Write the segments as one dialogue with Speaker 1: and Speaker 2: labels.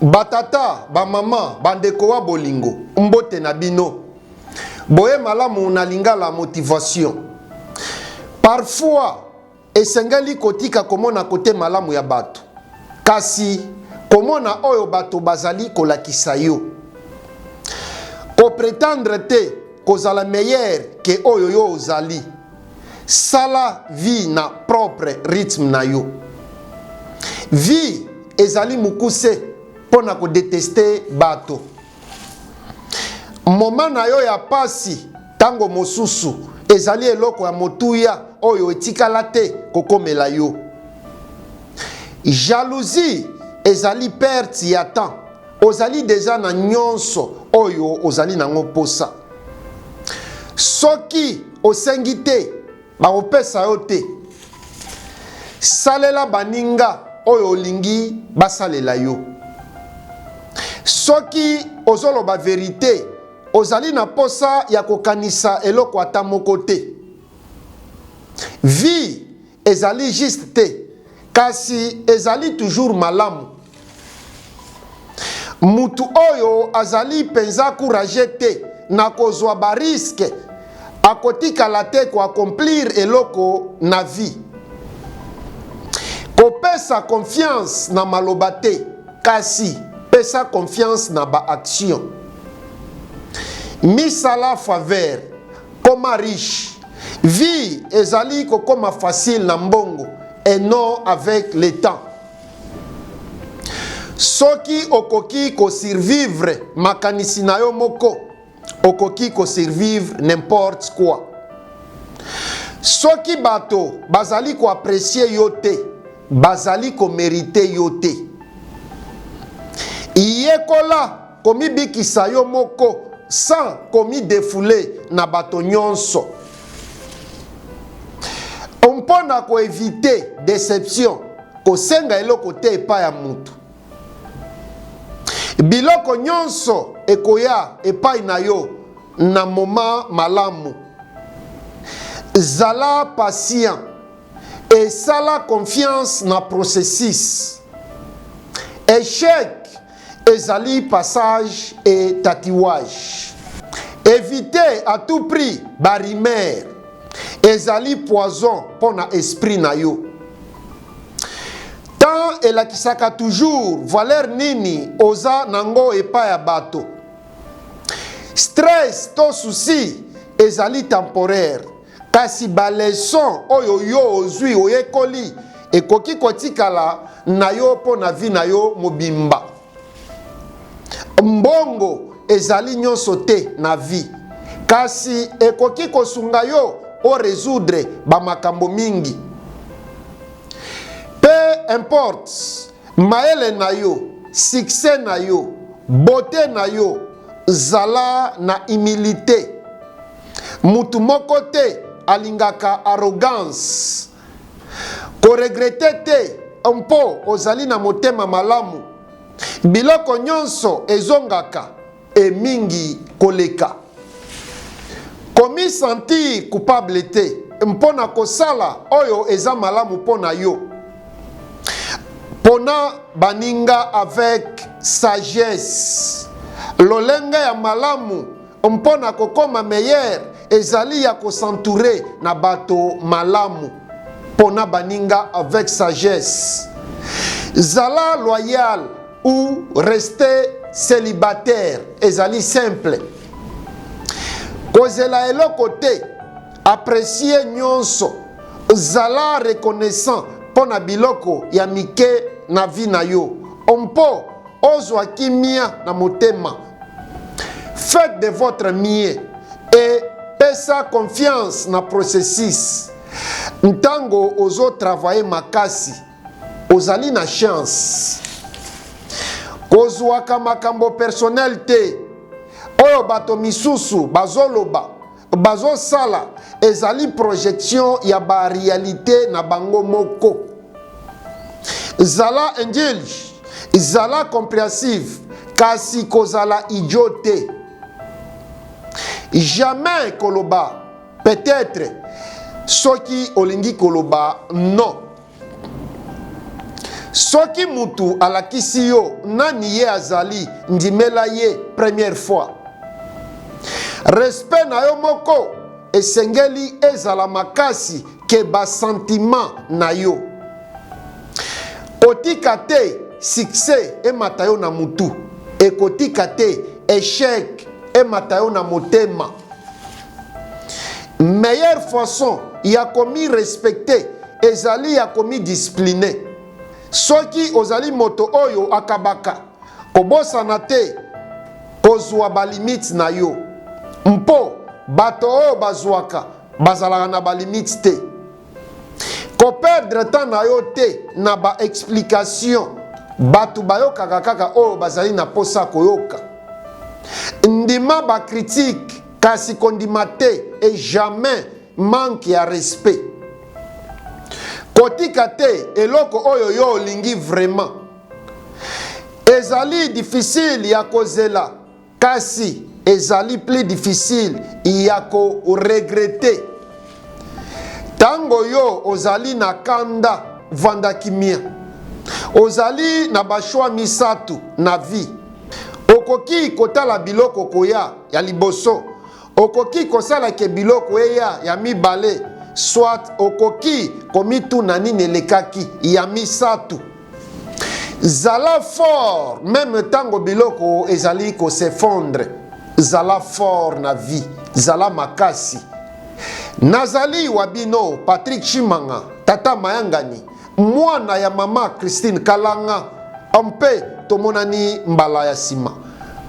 Speaker 1: Batata, bamama, bandeko wa bolingo, mbote na bino. Boye malamu na lingala motivation. Parfois, esengeli kotika komona kote malamu ya bato, kasi komona oyo bato bazali kolakisa yo. Kopretendre te kozala meilleur ke oyo yo ozali. Sala vie na propre rythme na yo. Vie ezali mukuse mpo na kodeteste bato. Moma na yo ya pasi ntango mosusu ezali eloko ya motuya oyo etikala te kokomela yo. Jalousie ezali perte ya temps. Ozali deja na nyonso oyo ozali nango mposa. Soki Osengi te, bakopesa yo te. Salela baninga oyo olingi basalela yo. Soki ozoloba verite, ozali na mposa ya kokanisa eloko ata moko te. Vie Ezali juste te kasi ezali toujours malamu. Mutu oyo azali penza courage te na kozwa ba risque akotikala te ko accomplir eloko na vie. Kopesa confiance na maloba te kasi pesa confiance na ba action. Misala faveur Koma riche. Vie ezali kokoma facile na mbongo et non avec le temps. Soki okoki ko survivre makanisi na yo moko, okoki ko survivre n'importe quoi. Soki bato bazali ko apprécier yo te, bazali ko meriter yo te. Yekola Komibikisa yo moko sans komidefouler na bato nyonso. Mpo na ko eviter deception, kosenga eloko te epai ya moto. Biloko nyonso ekoya epai na yo na moma malamu. Zala patient esala confiance na processus. Echec Ezali passage et tatouage. Eviter à tout prix ba rumeurs. Ezali poison mpo na esprit na yo. Temps elakisaka toujours valeur nini oza nango epai ya bato. Stress to souci ezali temporaire. Kasi baleson oyo yo ozwi, oyekoli, ekoki kotikala na yo mpo na vi na yo mobimba. Mbongo ezali nyonso te na vi, kasi ekoki kosunga yo o resoudre ba makambo mingi. Peu importe mayele na yo, succès na yo, beaute na yo, zala na humilite. motu moko te alingaka arrogance koregrete te mpo ozali na motema malamu biloko nyonso ezongaka emingi koleka komisentir coupable te mpo na kosala oyo eza malamu mpo na yo pona baninga avec sagesse lolenge ya malamu Mpo na kokoma meilleur ezali ya ko s'entourer na bato malamu. Pona baninga avec sagesse. Zala loyal ou rester celibataire ezali simple. Kozela eloko te, apprécier nyonso, zala reconnaissant mpo na biloko ya mike na vie na yo mpo ozwa kimia na motema Faites de votre mieux et pesa confiance na processus. Ntango ozo travailler makasi, ozali na chance. Kozwaka makambo personnel te oyo bato misusu bazoloba bazosala ezali projection ya ba realite na bango moko zala angeli zala comprehensive kasi kozala idio te jamais koloba peut-être soki olingi koloba non Soki mutu alakisi yo nani ye azali, ndimela ye première fois. Respect na yo moko esengeli ezala makasi ke ba sentiments na yo. Kotika te succès emata yo na mutu, ekotika te echec emata yo na motema. meilleure façon ya komi respecter ezali ya komi discipline soki ozali moto oyo akabaka kobosana te kozwa balimite na yo mpo bato oyo bazwaka bazalaka na balimite te koperdre temps na yo te na baexplication bato bayokaka kaka oyo bazali na mposa koyoka ndima bakritike kasi kondima te et jamais manque ya respect kotika te eloko oyo yo olingi vraiment ezali difficile ya kozela kasi ezali plus difficile ya koregrete ntango yo ozali na kanda vanda kimia ozali na bashwa misato na vie okoki kotala biloko koya ya liboso okoki kosala ke biloko eya ya mibale soit okoki komituna nini elekaki ya misato zala fort meme ntango biloko ezali kosefondre zala fort na vie zala makasi nazali wa bino patrik chimanga tata mayangani mwana ya mama Christine Kalanga mpe tomonani mbala ya nsima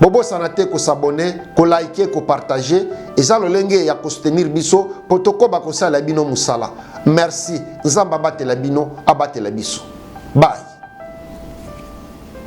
Speaker 1: bobosana te kosabone kolike kopartage eza lolenge ya kosutenir biso mpo tokoba kosalela bino mosala merci nzambe abatela bino abatela biso bai